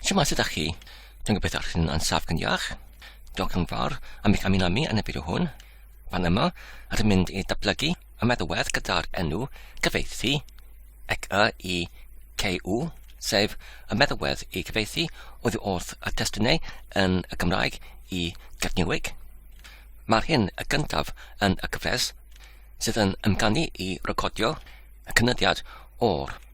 Siwmai sydd â chi? Dwi'n gobeithio eich chi'n ansaf gan iach. Diolch yn fawr am eich amino mi yn y fideo hwn. Fan yma, rydym mynd i datblygu y meddalwedd gyda'r enw cyfeithi, ec y i CU, sef y meddalwedd i gyfeithi oddi wrth y testunau yn y Gymraeg i Gafniwig. Mae'r hyn y gyntaf yn y cyfres sydd yn ymganu i recordio y cynyddiad o'r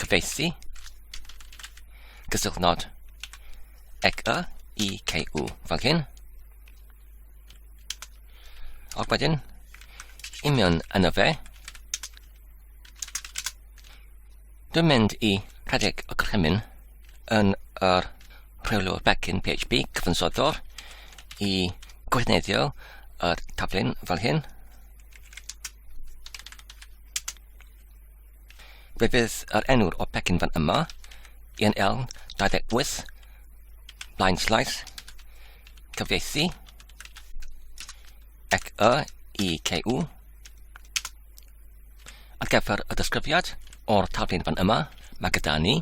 cyfieithu, gysylltu nod, ec y, i, c, u, fel hyn. Ac wedyn, union yna fe, Dwi'n mynd i rhedeg y gorchymyn yn yr rheolwr backend PHP cyfansoddwr i gwrthneiddio yr taflun fel hyn. Fe fydd yr enw'r o pecyn fan yma, yn eln 28, blaen slaes, cyfieithu, ac y i CU, ar gyfer y disgrifiad o'r taflun fan yma, mae gyda ni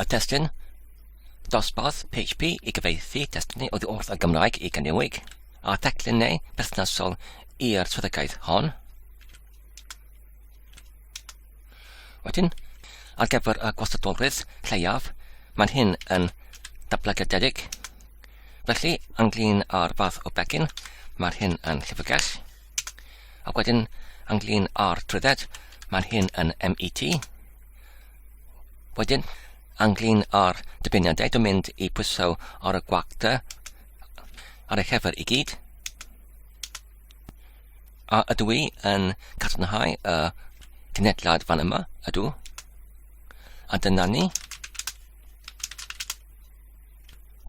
y testyn dosbarth PHP i gyfeithi testynau oddi wrth y Gymraeg i gyniwig, a teclynnau perthnasol i'r swyddogaeth hon. Wedyn, ar gyfer y gwastadolrwydd lleiaf, mae'n hyn yn dablygededig. Felly, ynglyn â'r fath o begin, mae'r hyn yn llyfrgell. Ac wedyn, ynglyn â'r trwydded, mae'n hyn yn MET. Wedyn, ynglyn â'r dyfyniadau, dwi'n mynd i pwyso ar y gwagta ar y llefer i gyd. A ydw i yn cadarnhau y cynhedlad fan yma? Ydw. A dyna ni.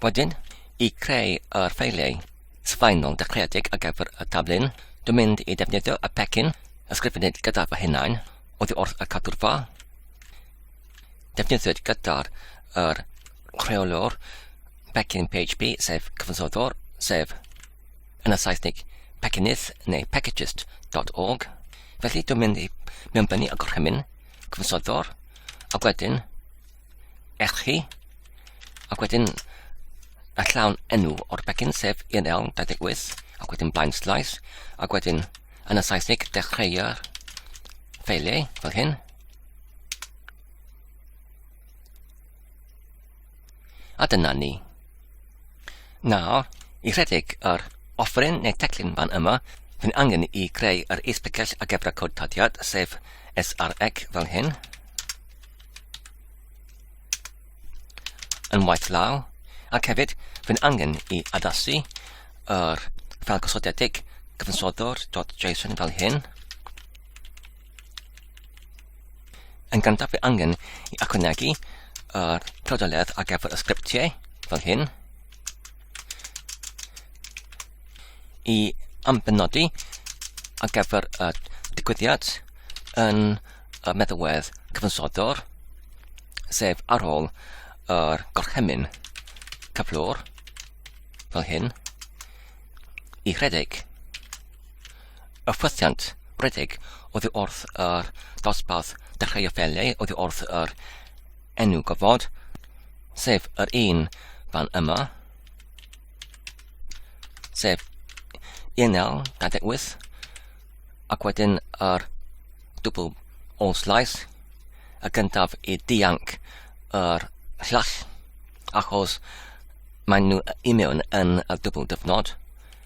Wedyn, i creu yr ffeiliau sylfaenol dechreuedig ar gyfer y taflun, dwi'n mynd i defnyddio y pecyn ysgrifennydd gyda fy hunain oddi wrth y cadwrfa. Defnyddiwyd gyda'r er rheolwr pecyn PHP sef cyfansoddwr sef yn y Saesnig Pekinydd neu Pekijist.org, felly dwi'n mynd i mewnbynnu y gorchymyn, cyfnsoddwr, ac wedyn eich chi, ac wedyn y llawn enw o'r pecyn sef 1128 ac wedyn blaen slaes ac wedyn yn y Saesnig dechreuo'r ffeiliau fel hyn A dyna ni. Nawr, i rhedeg yr offrin neu teclyn fan yma, fy'n angen i greu yr is-bicell a gebra cod tadiad, sef SREC fel hyn. Yn waith law, ac hefyd fy'n angen i addasu yr ffel gosodedig gyfansoddwr.json fel hyn. Yn gyntaf fe angen i ychwanegu yr clodoledd ar gyfer y sgriptiau fel hyn i ambenodi ar gyfer y digwyddiad yn y meddalwedd cyfansoddwr sef ar ôl yr gorchymyn cyflwr fel hyn i rhedeg. Y ffwythiant rhedeg oddi wrth yr dosbarth dechreuo felly oddi wrth yr enw gofod, sef yr un fan yma, sef 1928, ac wedyn yr dwbl ôl slais, y gyntaf i dianc yr llall, achos maen nhw i mewn yn y dwbl dyfnod,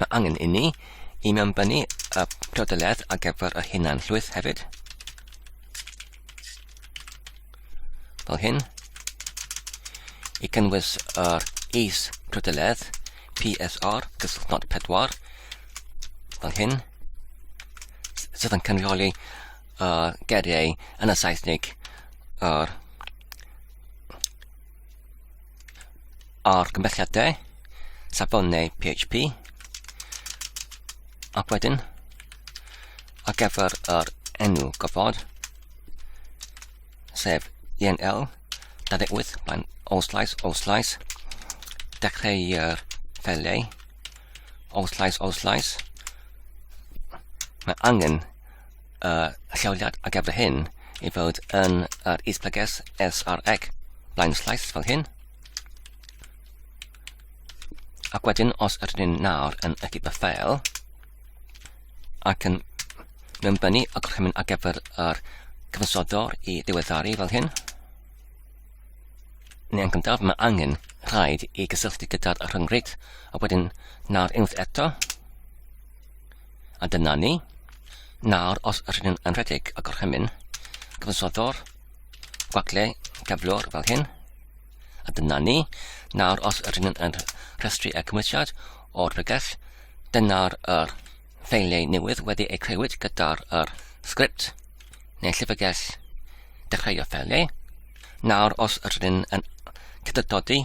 Mae angen i ni i mewnbynnu y priodoliaeth ar gyfer y hunan llwyth hefyd. Fel hyn. I cynnwys yr is priodoliaeth PSR gysylltnod pedwar fel hyn sydd yn cynrychioli uh, geriau yn y Saesnig yr argymhelliadau safon neu PHP ac wedyn ar gyfer yr enw gofod sef ENL 28 blaen all slice all slice dechreu'r feleu all slice all slice mae angen uh, lleoliad ar gyfer hyn i fod yn yr uh, isblyges SRX blaen slaes fel hyn. Ac wedyn, os ydyn ni'n nawr yn y gyda ffeil, ac yn mewn bynu y gorchymyn ar gyfer yr cyfansodwr i ddiweddaru fel hyn, neu yn gyntaf mae angen rhaid i gysylltu gyda'r rhyngwyd, a wedyn nawr unwaith eto, A dyna ni. Nawr, os rydyn yn rhedeg y gorchymyn, cyfansoddo'r gwagle cyflwr fel hyn. A dyna ni. Nawr, os rydyn yn rhestru y cymwysiad o'r bregeth, dyna'r er ffeiliau newydd wedi eu creuwyd gyda'r er sgript neu llyfrgell dechreuo ffeiliau. Nawr, os rydyn yn cydydodi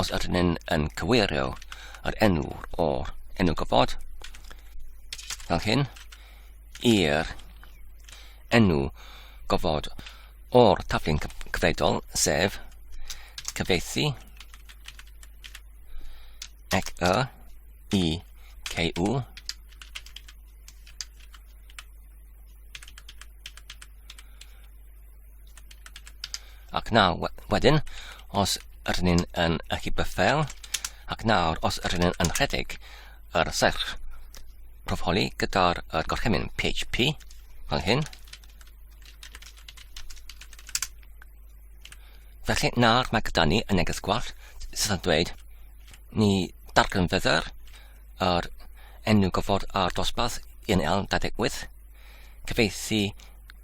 os ydyn ni'n yn cyweirio yr enw o'r enw gofod fel hyn i'r enw gofod o'r taflu'n cyfredol, sef cyfeithi ec y i CU Ac nawr, wedyn, os ydyn ni'n yn y byffel, ac nawr, os ydyn ni'n yn rhedeg yr serch profoli gyda'r er gorchymyn PHP, fel hyn. Felly nawr mae gyda ni y neges gwallt sydd yn dweud ni dargan fydder yr enw gofod ar dosbarth 1L28 cyfeithi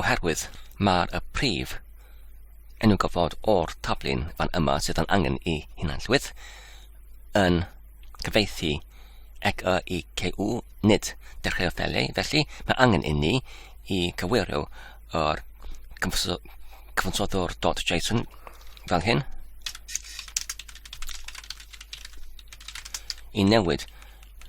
oherwydd mae'r y prif enw gofod o'r tablyn fan yma sydd yn angen i hunanllwydd yn cyfeithi ec y i CU, nid dechrau ffeliau, felly mae angen inni i cywirio yr cyfansoddwr.json fel hyn i newid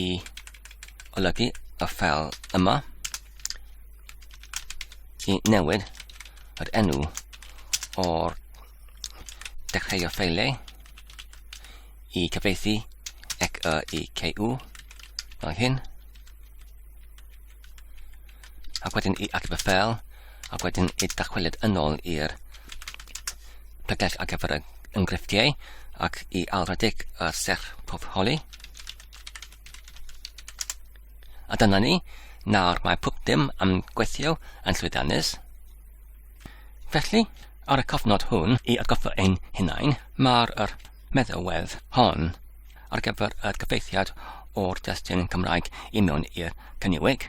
i olygu y ffel yma i newid yr enw o'r dechrau o ffeiliau i cyfeithi ec y i CU fel hyn ac wedyn i Archifau Ffeil, ac wedyn i dachweliad yn ôl i'r pegell ar gyfer y enghreifftiau, ac i alradig y serch pob holi. A dyna ni, nawr mae pob dim am gweithio yn llwyddiannus. Felly, ar y cofnod hwn, i atgoffa ein hunain, mae'r meddalwedd hon ar gyfer y cyfeithiad o'r destun Cymraeg i mewn i'r cyniwig,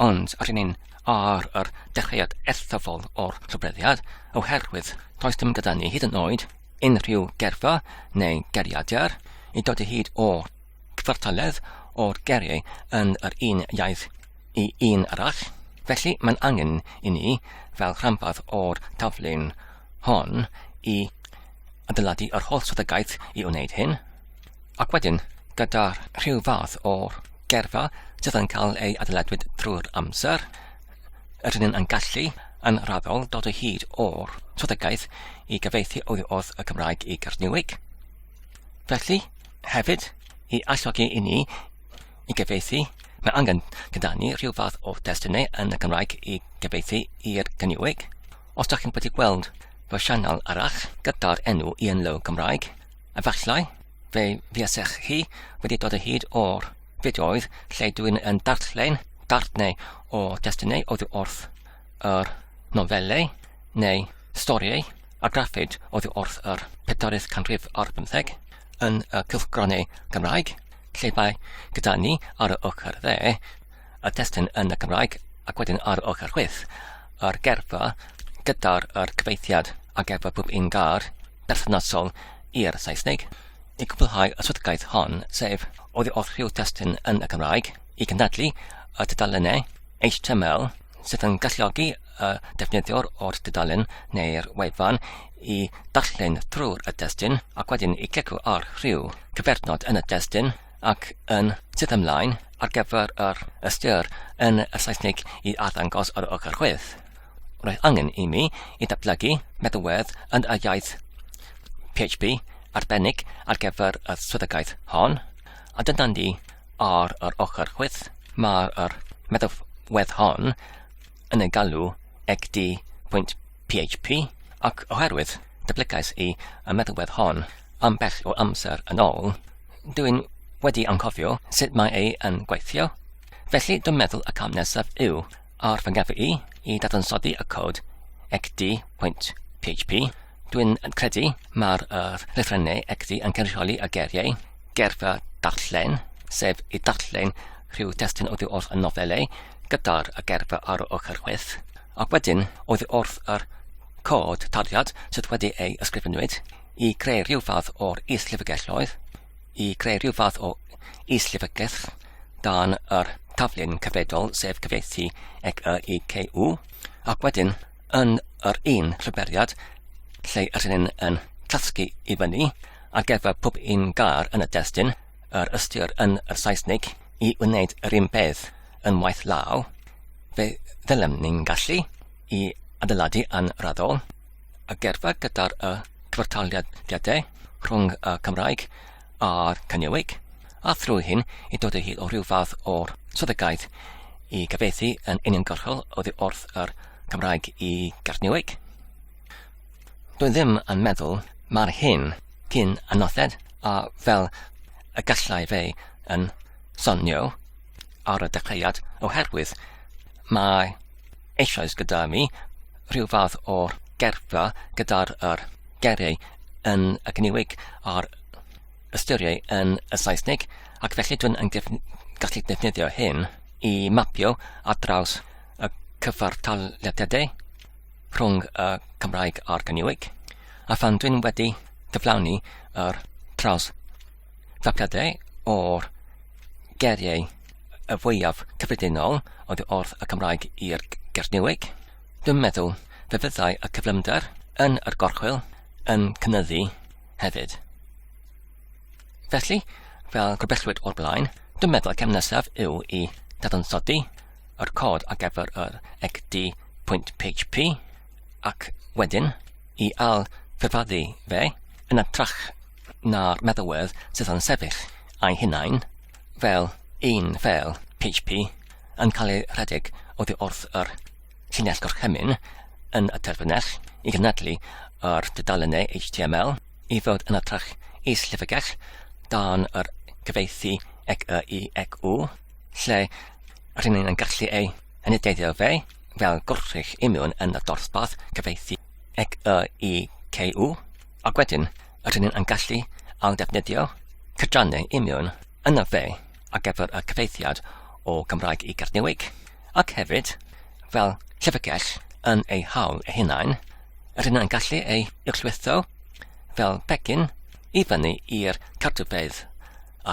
ond rydyn ni'n ar yr dechreuad eithafol o'r llofruddiad oherwydd does dim gyda ni hyd yn oed unrhyw gerfa neu geriadur i dod o hyd o gyfartaledd o'r geriau yn yr un iaith i un arall. Felly mae'n angen i ni, fel rhanbarth o'r taflu'n hon i adeiladu yr holl strategaeth i wneud hyn, ac wedyn gyda rhyw fath o gerfa sydd yn cael ei adeiladwyd drwy'r amser, yr hyn yn gallu yn raddol dod o hyd o'r strategaeth i gyfeithi oddi wrth y Cymraeg i Garniwig. Felly, hefyd, i alluogi i ni i gyfieithu, mae angen gyda ni rhyw fath o destunau yn y Gymraeg i gyfieithu i'r Gynywig. Os da chi'n wedi gweld fy sianel arall gyda'r enw Ian Lowe Gymraeg, efallai fe fuasech chi wedi dod o hyd o'r fideoedd lle dwi'n yn darllen darnau o destunau oddi wrth yr nofelau neu storiau a graffid oddi wrth yr pedarydd canrif ar bymtheg. yn y cylchgronau Cymraeg, lle mae gyda ni ar y ochr dde y testun yn y Gymraeg ac wedyn ar y ochr chwith yr gerfa gyda'r er cyfeithiad a gerfa pob un gar berthnasol i'r Saesneg. I gwblhau y swydgaeth hon, sef oddi wrth rhyw testun yn y Gymraeg, i gynadlu y tudalennau HTML sydd yn galluogi y defnyddiwr o'r dudalen neu'r wefan i darllen drwy'r y destun ac wedyn i glicio ar rhyw cyfernod yn y destun ac yn sydd ymlaen ar gyfer yr ystyr yn y Saesneg i addangos ar ochr chwith. Roedd angen i mi i datblygu meddwedd yn y iaith PHP arbennig ar gyfer y swyddogaeth hon, a dyna ni Ar yr ochr chwith, mae'r yr meddalwedd hon yn ei galw egdi pwynt PHP, ac oherwydd datblygais i y meddalwedd hon ambell o amser yn ôl, dw i'n wedi anghofio sut mae e yn gweithio, felly dwi'n meddwl y cam nesaf yw Ar fy ngefn i, i dadansoddi y cod xd.php, dwi'n credu mae'r uh, lythrennau xd yn cynrychioli y geiriau, gerfa darllen, sef i darllen rhyw destyn oddi wrth y nofelau gyda'r gerfa ar y ochr chwith, ac wedyn oddi wrth yr cod taliad sydd wedi ei ysgrifenwyd i greu rhyw fath o'r is-lyfrgelloedd. i greu rhyw fath o is-llyfrgell dan yr taflen cyfredol, sef cyfieithu ec y i CU, ac wedyn yn yr un rhyberiad lle yr hynny'n yn tasgu i fyny ar gyfer pob un gar yn y destun, yr ystyr yn y Saesnig i wneud yr un beth yn waith law, fe ddylem ni'n gallu i adeiladu yn raddol y gerdded gyda'r y cyfartaliadau rhwng y Cymraeg a'r Cyniwig, a thrwy hyn i dod o hyd o rhyw fath o'r swyddogaeth i gyfeithi yn uniongyrchol oddi wrth yr Cymraeg i Garniwig. Dwi ddim yn meddwl mae'r hyn cyn anodded a fel y gallai fe yn sonio ar y dechreuad oherwydd mae eisoes gyda mi, rhyw fath o gerffa gyda'r yr geiriau yn y gyniwig a'r ystyriau yn y Saesneg, ac felly dwi'n yn def gallu defnyddio hyn i mapio ar draws y cyfartalediadau rhwng y Cymraeg a'r gyniwig, a phan dwi'n wedi cyflawni yr traws Tacadau o'r geiriau y fwyaf cyffredinol oddi wrth y Cymraeg i'r Gernyweg. Dwi'n meddwl fe fyddai y cyflymder yn yr gorchwyl yn cynyddu hefyd. Felly, fel gorbellwyd o'r blaen, dwi'n meddwl y cam nesaf yw i dadansoddi yr cod ar gyfer yr egd.php ac wedyn i al ffurfaddu fe yn y trach na'r meddalwedd sydd yn sefyll eu hunain fel un fel HP yn cael ei rhedeg oddi wrth yr llinell gorchymyn yn y terfynell i gynadlu yr dudalennau HTML i fod yn atrach is-llyfrgell dan yr cyfeithi ec y i ec u, lle rhyn yn gallu ei anideiddio fe fel gwrthrych imiwn yn y dorthbath cyfeithi ec y i cu. Ac wedyn, rydyn ni yn gallu ailddefnyddio cydrannau imiwn yn y dde ar gyfer y cyfeithiad o Gymraeg i Gernyweg, ac hefyd, fel llyfrgell yn eu hawl eu hunain, rydyn yn gallu eu uwchlwytho fel pecyn i fyny i'r cartrfeydd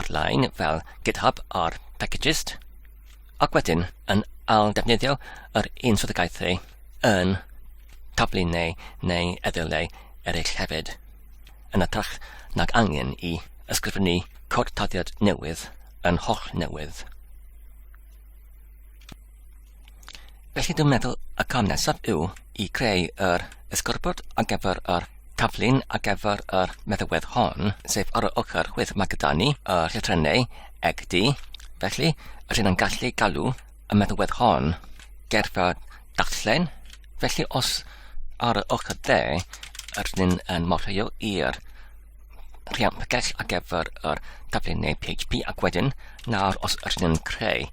ar-lein fel GitHub ar Packagist, ac wedyn yn ail-ddefnyddio yr un swyddogaethau yn taflu neu neu eddylau eraill hefyd, yn ytrach nag angen i ysgrifennu cod tarddiad newydd yn holl newydd. Felly dwi'n meddwl y cam nesaf yw i creu yr esgorbwd ar gyfer yr taflun ar gyfer yr meddywedd hon, sef ar y ochr chwith mae gyda ni y llythrennau eg di, felly rydyn yn gallu galw y meddalwedd hon gerfa darllen. Felly os ar y ochr dde yr un yn morheo i'r rhiant pygell ar gyfer yr taflu neu PHP ac wedyn nawr os yr un yn creu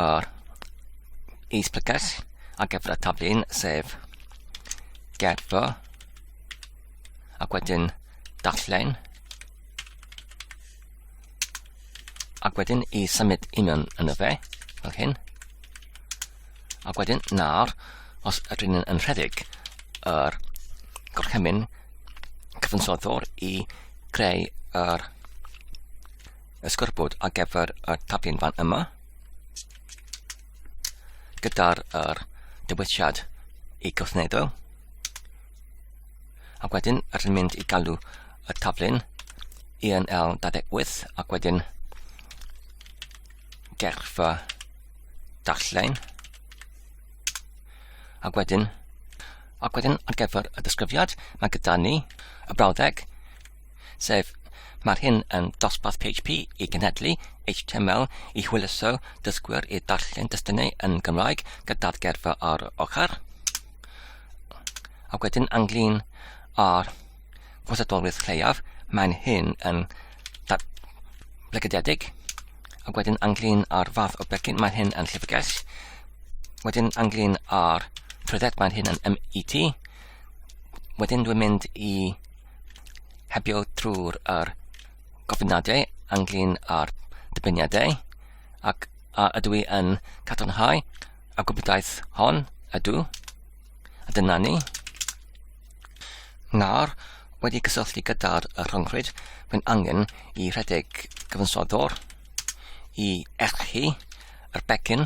yr is pygell ar gyfer y taflu sef gerfa ac wedyn darllen Ac wedyn i symud i mewn yn y fe, fel hyn. Ac wedyn nawr, os ydyn ni'n rhedeg yr gorchymyn cyfansoddwr i greu yr ysgorbwd ar gyfer y tablyn fan yma, gyda'r er, dywediad i gwrthneiddo, ac wedyn rydyn ni'n mynd i galw y taflen ENL 28 ac wedyn gerfa darllen ac wedyn ac wedyn ar gyfer y disgrifiad mae gyda ni y brawddeg sef Mae'r hyn yn dosbarth PHP i genhedlu HTML i hwyluso dysgwyr i darllen destunau yn Gymraeg gyda'r gerfa ar ochr. Ac wedyn anglyn ar gwrthdolwydd lleiaf, mae'n hyn yn blegydedig. Ac wedyn anglyn ar fath o begyn, mae'n hyn yn llyfrgell. Wedyn anglyn ar trwydded, mae'n hyn yn MET. Wedyn dwi'n mynd i hebio trwy'r er gofyniadau ynglyn â'r dybyniadau ac a ydw i yn cadarnhau y gwybdaeth hon ydw a dyna ni. Nawr, wedi cysylltu gyda'r rhyngrwyd, mae'n angen i rhedeg gyfansoddwr i erchu yr becyn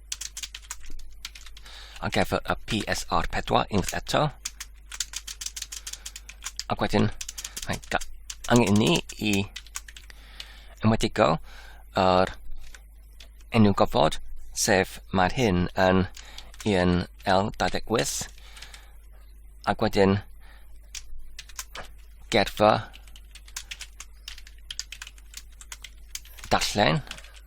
Ac efo y PSR4 unwaith eto. Ac wedyn, mae angen ni i ymwedigo yr enw gofod, sef mae'r hyn yn un L28, ac wedyn gerfa darllen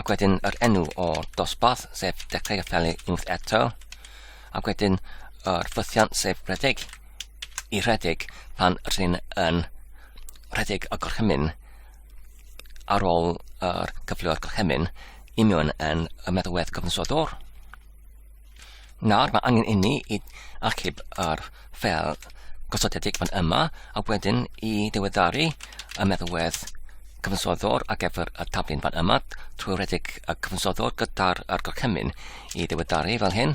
ac wedyn yr enw o dosbarth, sef Dechrau Apelu Unwaith Eto, ac wedyn yr ffythiant, sef rhedeg i rhedeg pan rhyn yn rhedeg y gorchymyn ar ôl yr cyfleo'r gorchymyn i mewn yn y meddalwedd cyfnodol. Nawr mae angen inni i achub yr ffel gosodedig fan yma a wedyn i ddiweddaru y meddalwedd cyfansoddwr ar gyfer y taflun fan yma trwy redeg y cyfansoddwr gyda'r gorchymyn i ddiweddaru fel hyn.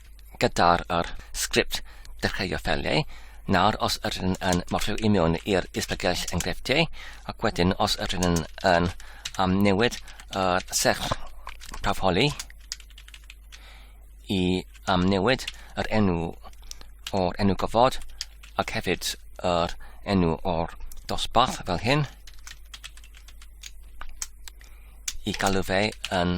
gyda'r yr sgript dechreuo ffeiliau. Nawr, os ydyn yn morfio i mewn i'r isbygell enghreifftiau, ac wedyn os ydyn yn, yn amnewid yr serch prawfholi i amnewid yr enw o'r enw gofod ac hefyd yr enw o'r dosbarth fel hyn i galw fe yn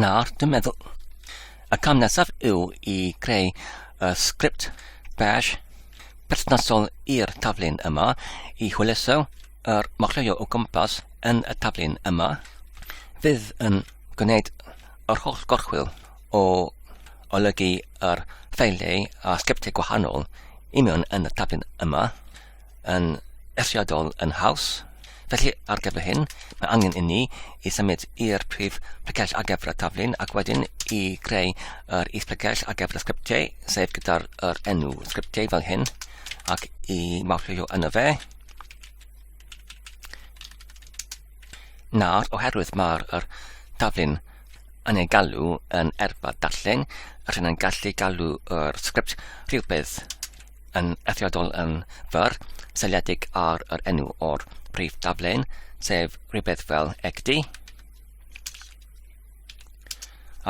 Nawr, dwi'n meddwl, y cam nesaf yw i creu y sgript bash perthnasol i'r taflun yma i hwyluso yr machleuo o gwmpas yn y taflun yma. Fydd yn gwneud yr holl gorchwyl o olygu yr ffeiliau a sgriptiau gwahanol i mewn yn y taflun yma. yn eithriadol yn haws. Felly, ar gyfer hyn, mae angen i ni i symud i'r prif pregell ar gyfer y taflun ac wedyn i greu yr is pregell ar gyfer y sgriptiau, sef gyda'r er enw sgriptiau fel hyn, ac i mawrhywio yno fe. Nawr, oherwydd mae'r er taflun yn ei galw yn erfa darllen, rydyn yn gallu galw yr sgript rhywbeth yn eithriadol yn fyr, seiliedig ar yr enw o'r prif daflen, sef rhywbeth fel egd.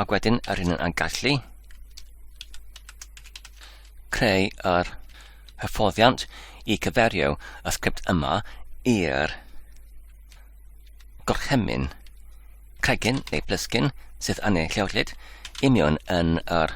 Ac wedyn yr hyn yn gallu creu yr hyfforddiant i cyferio y sgript yma i'r gorchymyn cregyn neu blysgyn sydd yn ei llewrlid union yn yr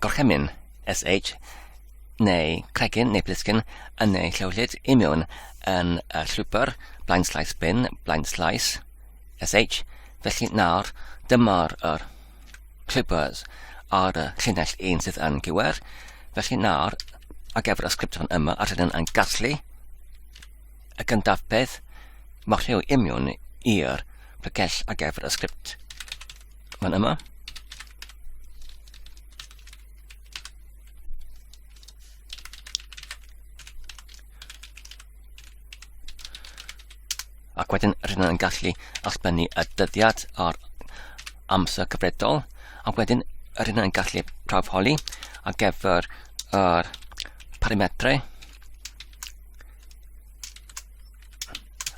gorchymyn, SH, neu cregyn neu blisgyn yn ei llewllyd imiwn yn y llwybr blaen slais bin, blaen slais, SH, felly nawr dymor yr llwybrs ar y llinell un sydd yn gywir, felly nawr ar gyfer y sgript fan yma a rydyn yn gasglu y gyntaf peth, mae rhyw imiwn i'r pregell ar gyfer y sgript. Mae'n yma. ac wedyn rydyn yn gallu allbennu y dyddiad a'r amser cyfredol ac wedyn rydyn yn gallu prawfholi ar gyfer yr parametrau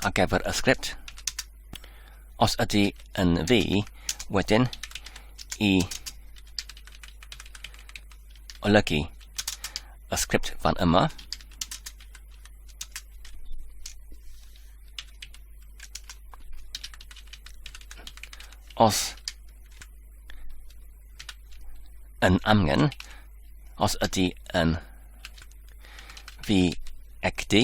ar gyfer y sgript Os ydy yn ddi, wedyn i olygu y sgript fan yma. Os yn amgen, os ydy yn fi egdi,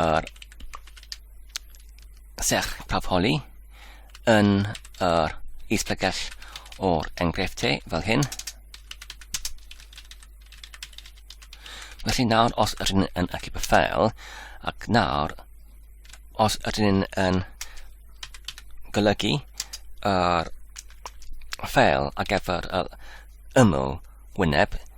yr serch holi yn yr isblegell o'r enghreifftiau fel hyn. Felly nawr os ydyn yn allu y ffeil ac nawr os ydyn yn golygu yr ffeil a gyfer yr ymyl wyneb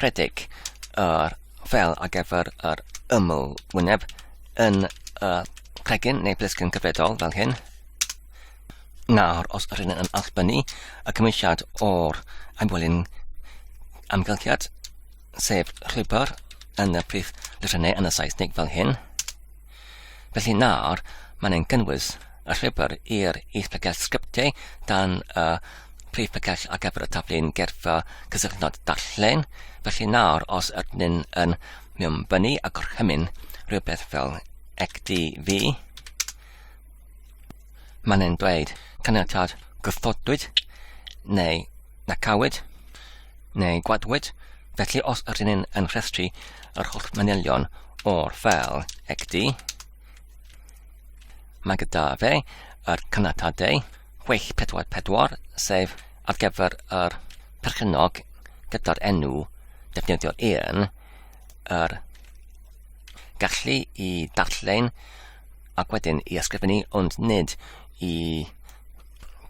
rhedeg yr fel ar gyfer yr ymwyneb yn y cregyn neu blisgyn cyfredol fel hyn. Nawr, os yr hyn yn allbynnu y cymwysiad o'r amwelyn amgylchiad, sef rhwybr yn y prif lythrennau yn y Saesnig fel hyn, Felly nawr, mae'n ein gynnwys y llwybr i'r is-pegell sgriptiau dan y prif pegell ar gyfer y taflu'n gerfa cysylltnod darllen. Felly nawr, os ydyn yn mewnbynnu a gorchymyn rhywbeth fel ectv, Mae'n ein dweud caniatâd gwrthodwyd neu na cawyd neu gwadwyd, felly os ydyn ni'n yn rhestru yr holl manylion o'r ffel ecd, mae gyda fe yr caniatadau 644 sef ar gyfer yr perchennog gyda'r enw defnyddio un, yr gallu i darllen ac wedyn i ysgrifennu ond nid i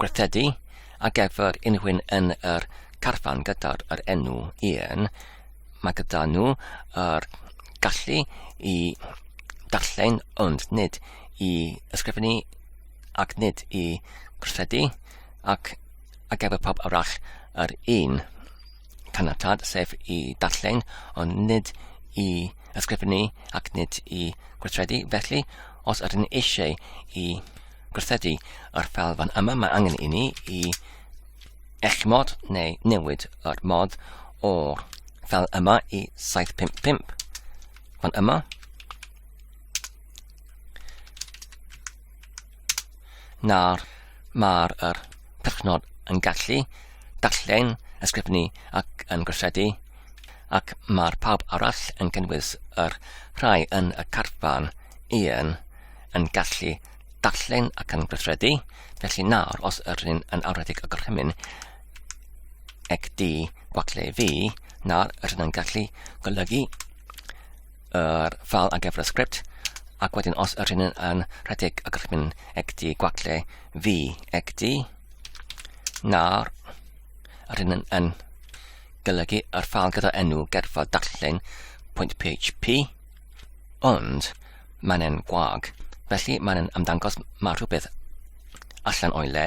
gwerthu a gefyr unrhywun yn yr carfan gyda'r yr enw un, mae gyda nhw yr gallu i darllen ond nid i ysgrifennu ac nid i gwerthu ac a gefyr pob arall yr un. caniatâd, sef i darllen, ond nid i ysgrifennu ac nid i gweithredu. Felly, os ydyn ni eisiau i gweithredu yr ffel fan yma, mae angen i ni i eich mod neu newid yr mod o'r ffel yma i 755 fan yma. Nawr, mae'r er perchnod yn gallu darllen, ysgrifennu ac yn gweithredu, ac mae'r pawb arall yn cynnwys yr rhai yn y carfan un yn gallu darllen ac yn gweithredu, felly nawr os yr un yn awredig y gorchymyn ec di gwacleu fi, nawr yr un yn gallu golygu yr file ar gyfer y sgript, ac wedyn os yr hyn yn rhedeg y gallwn mynd egdi gwagle fi egdi, nawr yr hyn yn golygu yr file gyda enw gerfa darllen pwynt PHP, ond mae'n en gwag, felly mae'n ymddangos mae rhywbeth allan o'i le,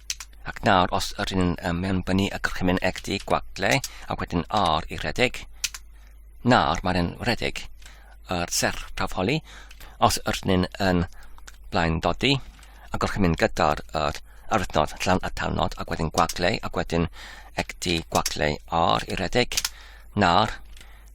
Ac nawr, os yr un um, mewnbynnu y gorchymyn egd i gwagle, a wedyn R i redeg, nawr mae'n yn redeg yr serch prawf holi, os yr un yn blaen dodi, a gorchymyn gyda'r yr arwythnod llawn a talnod, ac wedyn gwagle, ac wedyn egdi gwagle R i redeg, nawr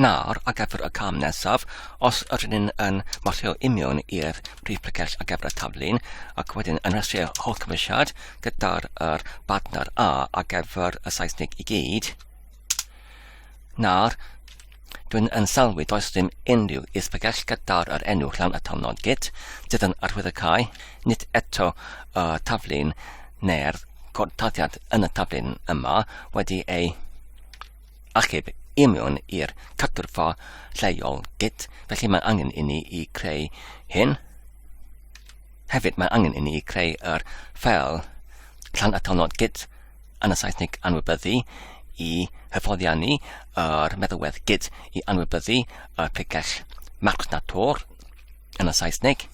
Nawr, ar gyfer y cam nesaf, os ydyn ni'n yn marcio union i'r prif pregell ar gyfer y taflun, ac wedyn yn rhestru holl cymwysiad gyda'r er badner A ar gyfer y Saesnig i gyd, nawr, Dwi'n yn sylwi does dim unrhyw is-bregell gyda'r yr enw llawn atalnod git sydd yn arwydd y cae, nid eto y taflun neu'r gortaddiad yn y taflun yma wedi ei achub union i'r cytgyrfa lleol git, felly mae angen inni i creu hyn. Hefyd mae angen inni i creu yr ffeil llan atalnod git yn y Saesneg anwybyddu i hyfforddiannu yr meddalwedd git i anwybyddu y pregell marchnato'r yn y Saesneg.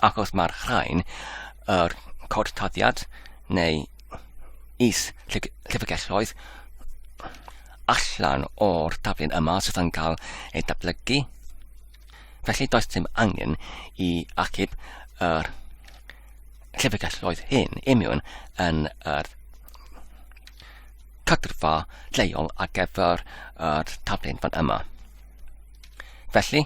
Ac os mae'r rhain, yr cod taddiad neu is llyfrgelloedd allan o'r taflen yma sydd yn cael ei datblygu, felly does dim angen i achub yr llyfrgelloedd hyn imiwn yn yr cadrfa lleol ar gyfer yr taflen fan yma. Felly,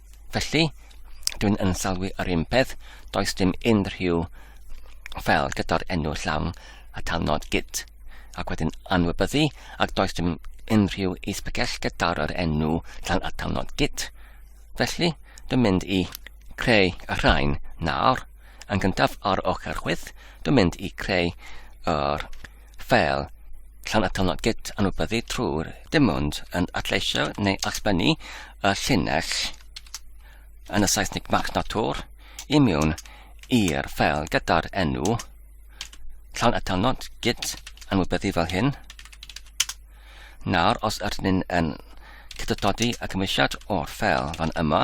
Felly, dwi'n yn sylwi yr un peth, does dim unrhyw fel gyda'r enw llawn a talnod git, ac wedyn anwybyddu, ac does dim unrhyw isbygell gyda'r yr enw llawn a talnod git. Felly, dwi'n mynd i creu y rhain nawr. Yn gyntaf ar ochr chwith, dwi'n mynd i creu yr fel Llanatolon Git anwybyddu trwy'r dim ond yn adleisio neu allbynnu y llinell yn y Saesneg Mac Natur i mewn i'r ffel gyda'r enw Llanatolon Git anwybyddu fel hyn. Nawr, os ydyn ni'n yn cydododi y cymwysiad o'r ffel fan yma,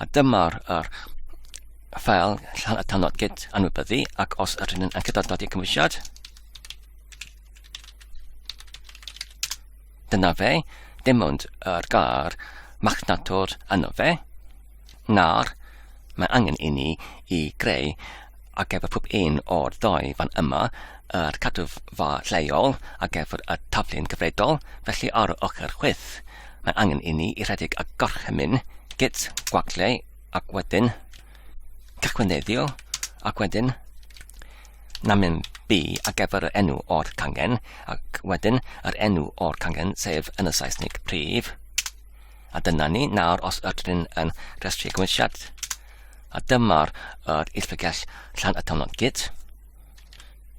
A dyma'r er, ffael tanod gyd anwybyddu ac os yr hyn yn cydnodod i'r cymwysiad, dyna fe, dim ond yr gair machnatwr yno fe, na'r mae angen i ni i greu ar gyfer pob un o'r ddau fan yma yr cadwfa lleol ar gyfer y taflu'n gyfredol, felly ar y ochr chwith. Mae angen i ni i rhedeg a gorchymyn git gwaglau ac wedyn cychwyneddio ac wedyn namen B a gyfer yr enw o'r cangen ac wedyn yr enw o'r cangen sef yn y Saesneg prif. A dyna ni, nawr os ydyn yn rhestru gwynsiad, a dyma'r er illfrigell llan y tymlon gyd.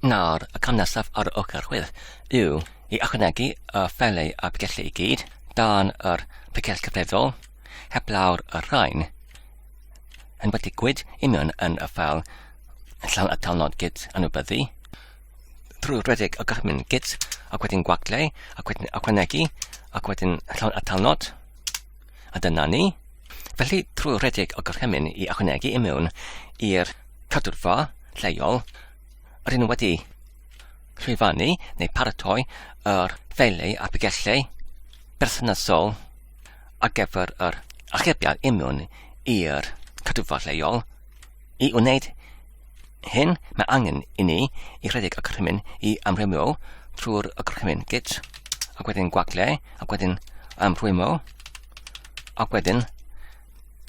Nawr, y cam nesaf ar ochr chwith yw i ychwanegu y ffelau a bregethau i gyd dan yr pregeth cyfredol, heblaw'r y rhain yn wedi gwyd union yn y ffel llawn atal nod gyd anwybyddu, drwy redeg y gorchmyn gyd ac wedyn gwaglau ac wedyn ychwanegu ac wedyn llawn atal nod. A dyna ni. Felly, trwy redeg o gorchymyn i ychwanegu i mewn i'r cadwrfa lleol, yr un wedi llwyfannu neu paratoi yr ffeiliau a bigellau berthnasol ar gyfer yr achebiad i mewn i'r cadwrfa lleol, I wneud hyn, mae angen i ni i rhedeg y gorchymyn i amrwymo trwy'r gorchymyn git, ac wedyn gwaglau, ac wedyn amrwymo, ac wedyn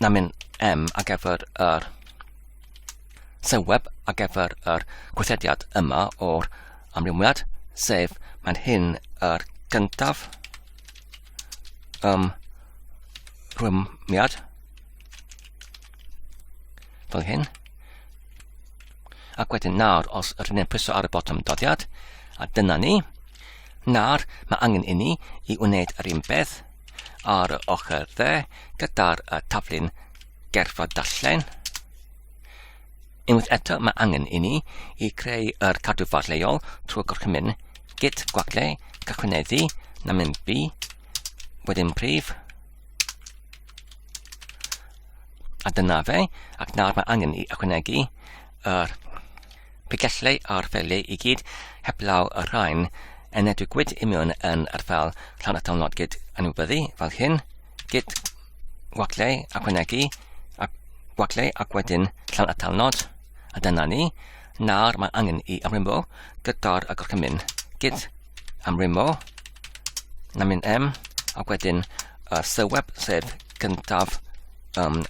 na mynd M ar gyfer yr sylweb ar gyfer yr gweithrediad yma o'r amrywiad, sef mae'n hyn yr gyntaf um, rhwymiad Fel hyn. Ac wedyn nawr, os rydyn ni'n pwyso ar y botwm doddiad, a dyna ni, nawr mae angen i ni i wneud yr un beth ar y ochr dde gyda'r uh, taflun gerfa darllen. Unwaith eto mae angen i ni i creu yr cadw ffordd leol trwy gorchymyn git gwagle cychwyneddu na mynd bu, wedyn prif, A dyna fe, ac nawr mae angen i ychwanegu yr pigellau a'r ffeliau i gyd heblaw y rhain yn edrych gwyd i mewn yn yr fel llawn atal nod gyd anwybyddu fel hyn, gyd gwaglau ychwanegu a gwaglau ac wedyn llawn atal nod A dyna ni. Nawr mae angen i amrymo gyda'r gorchymyn. Gyd amrymo. Na mynd M. A wedyn y syweb sef gyntaf um,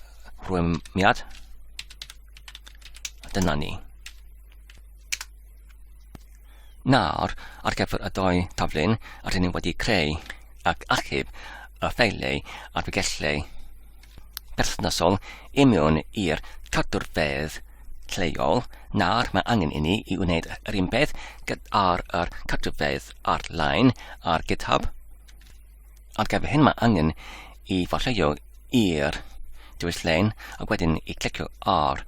rwymiad. A dyna ni. Nawr, ar gyfer y doi taflun, rydyn ni wedi creu ac achub y ffeiliau a'r bygellau berthnasol i mewn i'r cadwrfeydd lleol, nawr mae angen i ni i wneud yr un peth gyda'r yr cadwrfeydd ar-lein ar GitHub. Ar gyfer hyn mae angen i farlleio i'r dewis lein ac wedyn i clicio ar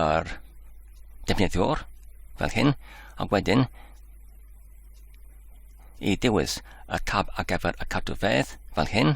yr defnyddiwr fel hyn ac wedyn i dewis y tab ar gyfer y cadwfeydd fel hyn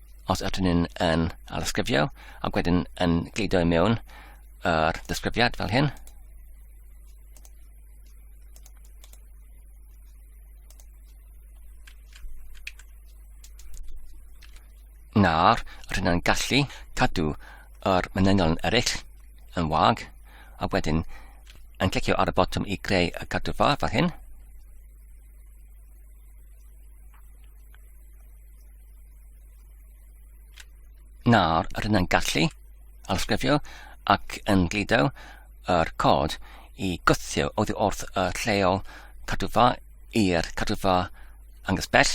os ydyn nhw'n yn alysgrifio ac wedyn yn gleidio i mewn yr disgrifiad fel hyn. Nawr, rydyn nhw'n gallu cadw yr mynedion eraill yn wag ac wedyn yn clicio ar y botwm i greu y cadw ffordd fel hyn. Nawr, rydyn yn gallu alsgrifio ac yn glido yr cod i gwthio oddi wrth y lleol cadwfa i'r cadwfa angos bell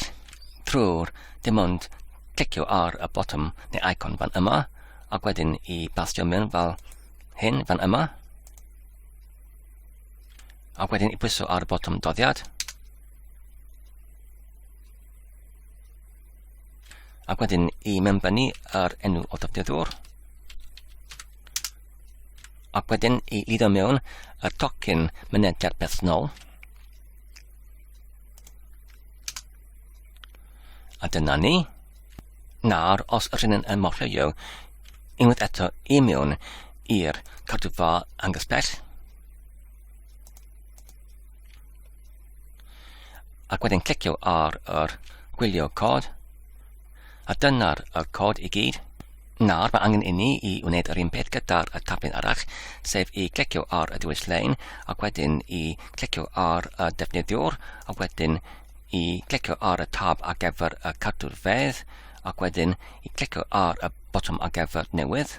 trwy'r dim ond clicio ar y botwm neu icon fan yma ac wedyn i bastio mewn fel hyn fan yma ac wedyn i pwyso ar y botwm doddiad Ac wedyn i member ni yr enw o dafdiddwr. Ac wedyn i lido mewn y tocyn mynediad personol. A dyna ni. Nawr, os ydyn yn morfeio unwaith eto i mewn i'r cadwfa angysbell, Ac wedyn clicio ar yr gwylio cod. A dyna'r y cod i gyd. Nawr mae angen i ni i wneud yr un peth gyda'r y tablen arall, sef i clicio ar y dewis lein ac wedyn i clicio ar y defnyddiwr ac wedyn i clicio ar y tab ar gyfer y cadw'r fedd ac wedyn i clicio ar y botwm ar gyfer newydd.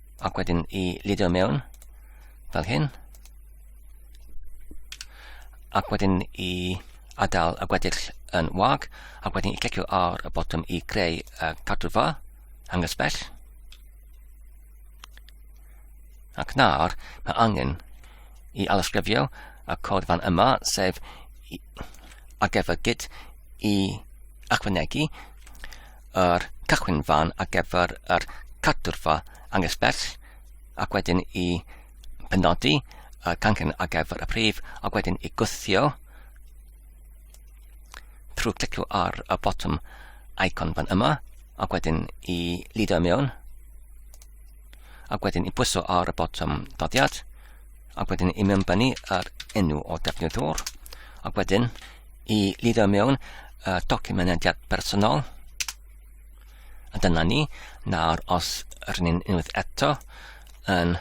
ac wedyn i lidio mewn fel hyn ac wedyn i adael y gweddill yn wag ac wedyn i clicio ar y botwm i greu y cadwfa angysbell ac nawr mae angen i alysgrifio y cod fan yma sef ar gyfer gyd i ychwanegu yr cychwyn fan ar gyfer yr cadwrfa anghysbell ac wedyn i penodi y cangen ar gyfer y prif ac wedyn i gwthio trwy clicio ar y botwm icon fan yma ac wedyn i lido mewn ac wedyn i bwyso ar y botwm doddiad ac wedyn i mewnbynnu yr enw o defnyddwr ac wedyn i lido mewn uh, documenediad personol. A dyna ni. Nawr, os rydyn ni'n unwaith eto yn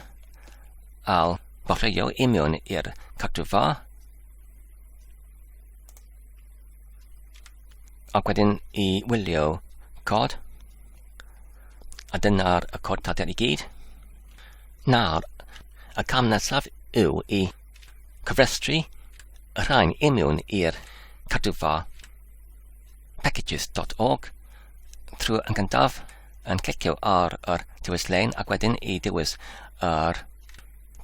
al borreio i mewn i'r cadw fa, ac wedyn i wylio cod, a dyna'r y cod tater i gyd. Nawr, y cam nesaf yw i cofrestru y rhain imiwn i'r cadwfa packages.org trwy yn gyntaf yn clicio ar yr dewis lein ac wedyn i dewis yr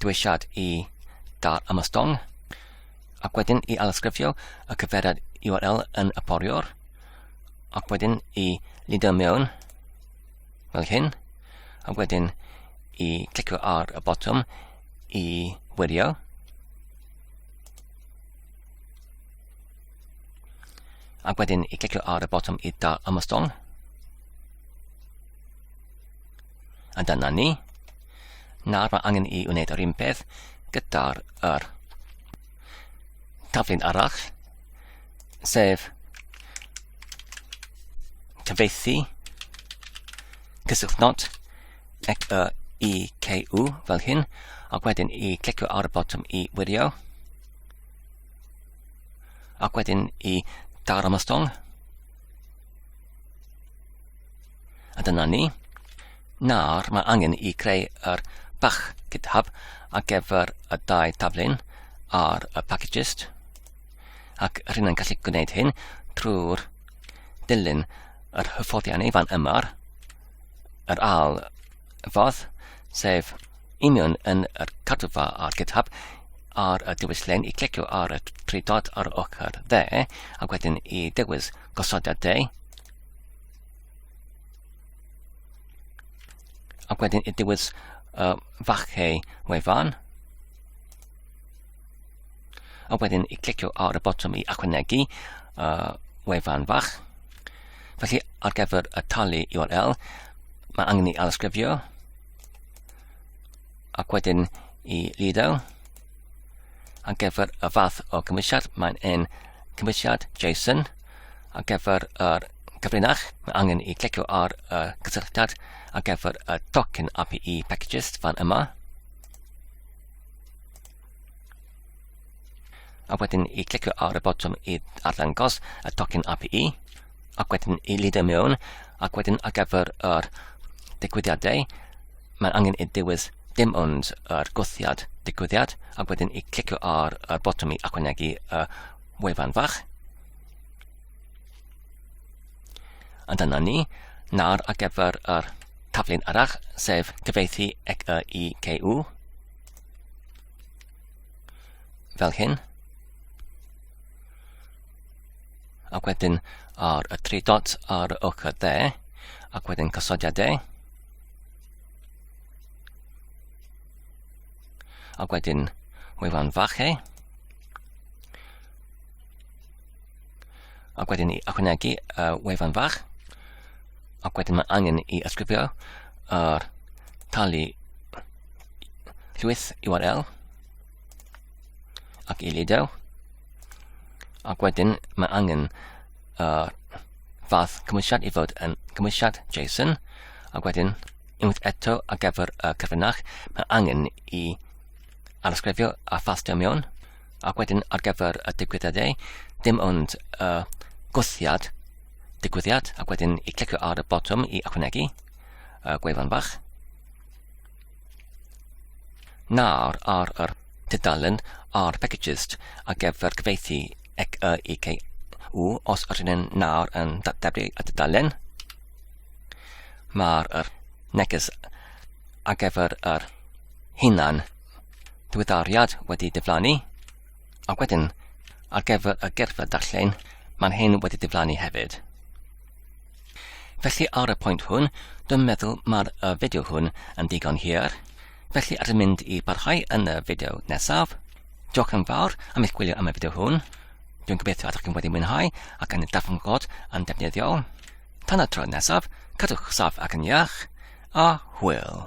dewisiad i dar ymostong ac wedyn i alysgrifio y cyfeiriad URL yn y poriwr ac wedyn i lido mewn fel hyn a wedyn i clicio ar y botwm i wirio. Ac wedyn i clicio ar y botwm i dal ymostol. A dyna ni. Nawr mae angen i wneud yr un peth gyda'r yr taflun arall, sef cyfeithi, cyswllt not, Clicio EKU fel hyn, ac wedyn i clicio ar y botwm i wirio. Ac wedyn i daro am y stong. A dyna ni. Nawr mae angen i creu yr bach GitHub ar gyfer y dau taflen ar y packages. Ac rhywun yn gallu gwneud hyn trwy'r dilyn yr hyfforddiannau fan yma'r yr ail ffordd, sef union yn yr cadwfa ar GitHub ar y diwyllen i clicio ar y tri dot ar y ochr dde ac wedyn i dewis gosodiad de ac wedyn i dewis uh, fachau wefan A wedyn i clicio ar y botwm i ychwanegu uh, wefan fach. Felly ar gyfer y talu URL, mae angen i alysgrifio ac wedyn i lido. Ar gyfer y fath o cymwysiad, mae'n un cymwysiad JSON. Ar gyfer yr cyfrinach, mae angen i clicio ar y cysylltiad ar gyfer y tocyn API packages fan yma. A wedyn i clicio ar y botwm i arddangos y tocyn API, ac wedyn i lido mewn, ac wedyn ar gyfer yr digwyddiadau, mae'n angen i dewis dim ond yr gwthiad digwyddiad ac wedyn i clicio ar y botwm i ychwanegu y wefan fach. A dyna ni, nawr ar gyfer yr taflen arall, sef cyfeithi ec y i CU. Fel hyn. Ac wedyn ar y tri dot ar y ochr dde, ac wedyn cysodiad e. Ac wedyn wefan fach e. Ac wedyn i ychwanegu uh, wefan fach. Ac wedyn mae angen i ysgrifio yr tali llwyth URL ac i lido ac wedyn mae angen uh, fath cymwysiad i fod yn cymwysiad JSON ac wedyn unwaith eto ar gyfer y cyfrinach mae angen i arsgrifio a ffastio mewn ac wedyn ar gyfer y digwyddiadau dim ond uh, gwthiad digwyddiad ac wedyn i clicio ar y botwm i ychwanegu uh, gwefan fach Nawr ar yr tudalen ar Packages ar gyfer cyfeithi ec y i cei u os ydyn yn nawr yn datblygu y tudalen. Mae'r er neges ar gyfer yr hunan diweddariad wedi diflannu ac wedyn ar gyfer y gerfa darllen mae'n hyn wedi diflannu hefyd. Felly ar y pwynt hwn, dwi'n meddwl mae'r uh, fideo hwn yn digon hir. Felly ar y mynd i barhau yn y fideo nesaf. Diolch yn fawr am eich gwylio am y fideo hwn. Dwi'n gobeithio ydych chi'n wedi mwynhau ac yn darfod yn defnyddiol. Tan y tro nesaf, cadwch saf ac yn iach, a hwyl!